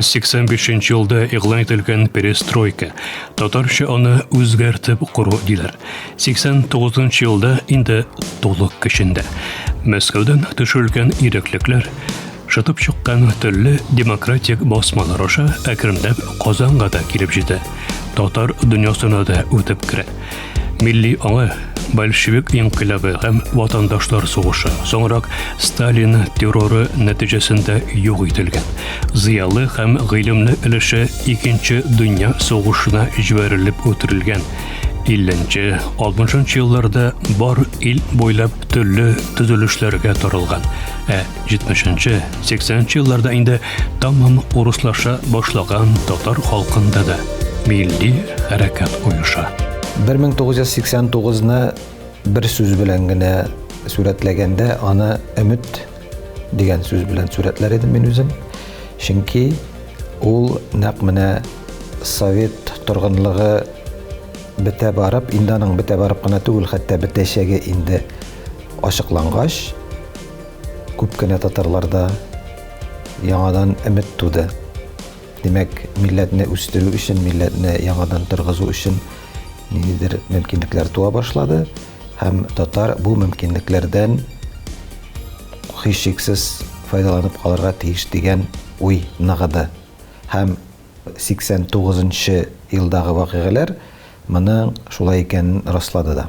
85 нче елда игълан ителгән перестройка, татарча аны үзгәртеп кору диләр. 89 нчы елда инде тулы көчендә. Мәскәүдән төшерелгән иреклекләр, шытып чыккан төрле демократик басмалар аша әкренләп Казанга да килеп җитә. Татар дөньясына да үтеп керә. Милли аңы, большевик инкыйлабы һәм ватандашлар сугышы, соңрак Сталин терроры нәтиҗәсендә юк ителгән. Зыялы һәм гыйлемле өлеше икенче дөнья сугышына җибәрелеп үтерелгән. 50-60 елларда бар ил буйлап төрле төзелешләргә таралган. Ә 70-нче, 80-нче елларда инде тамам урыслаша башлаган татар халкында да милли хәрәкәт оеша. 1989-ны бер сүз белән генә сүрәтләгәндә, аны өмет дигән сүз белән сүрәтләр идем мин үзем. Чөнки ул нәкъ менә совет торгынлыгы бетә барып, инде аның бетә барып кына түгел, хәтта бетәчәге инде ачыклангач, Күп кенә татарларда яңадан өмет туды. Димәк, милләтне үстерү өчен, милләтне яңадан торгызу өчен ниндидер мөмкинлекләр туа башлады һәм татар бу мөмкинлекләрдән һичшиксез файдаланып калырга тиеш дигән уй ныгыды. Һәм 89 нчы елдагы вакыйгаләр моның шулай икәнен раслады да.